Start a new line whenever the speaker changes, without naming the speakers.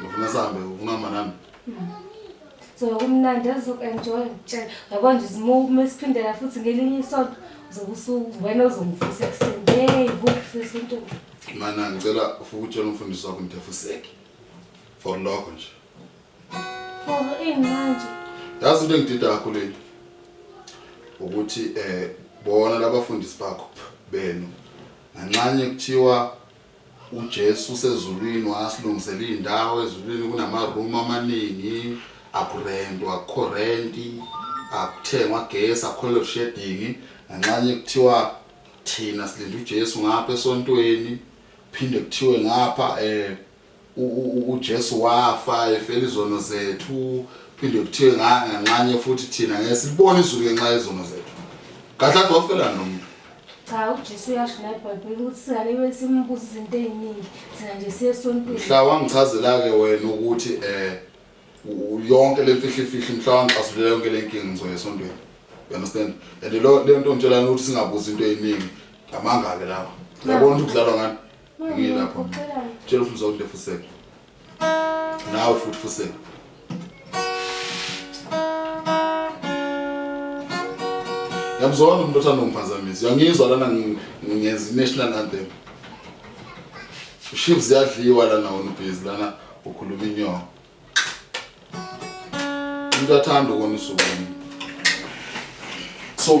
Ngifuna
sambe ungama nami.
So kumnandi azok enjoy ngitshela. Yabo nje simume siphindela futhi ngelinye isonto zobusuku wena ozongifisa ekuseni. Hey, bukufisa isinto. Mana ngicela
ufike utshela umfundisi wakho ngidefuseke. For lokho nje.
For ini manje? Yazi into
engidida kakhulu yini? Ukuthi eh bona labafundisi bakho benu nganxanye kuthiwa UJesu usezulwini wasilungisela iy'ndawo ezulwini kunamarumu amaningi akurentwa akukho renti akuthengwa gesi akukho load shedding nganxanye kuthiwa thina silinde uJesu ngapha esontweni phinde kuthiwe ngapha um UJesu wafa efela izono zethu, phinde kuthiwe nganxanye futhi thina ngeke silibone izulu ngenxa yezono zethu. Kahle kahle wafela nomuntu. cha ujesu uyasho la ebhayibheli ukuthi singalibe simbuza izinto
ey'ningi thina nje siye esontweni mhla wangichazela-ke
wena ukuthi um yonke le mfihlifihli mhla wangixasulela yonke le nkinga ngizoya esontweni understand and le nto ngitshelani ukuthi singabuzi into ey'ningi ngamanga-ke lawa yabona ukuthi kudlalwa ngani Yilapho. Tshela ufuza ukuthi lefuseke. Nawe futhi fuseke. Yamzona umuntu othanda ungiphazamisa. Uyangizwa lana ngenza i-national anthem. Ushiv ziyadliwa lana wona ubhizi lana ukhuluma inyongo. Umuntu athanda ukona usuku. So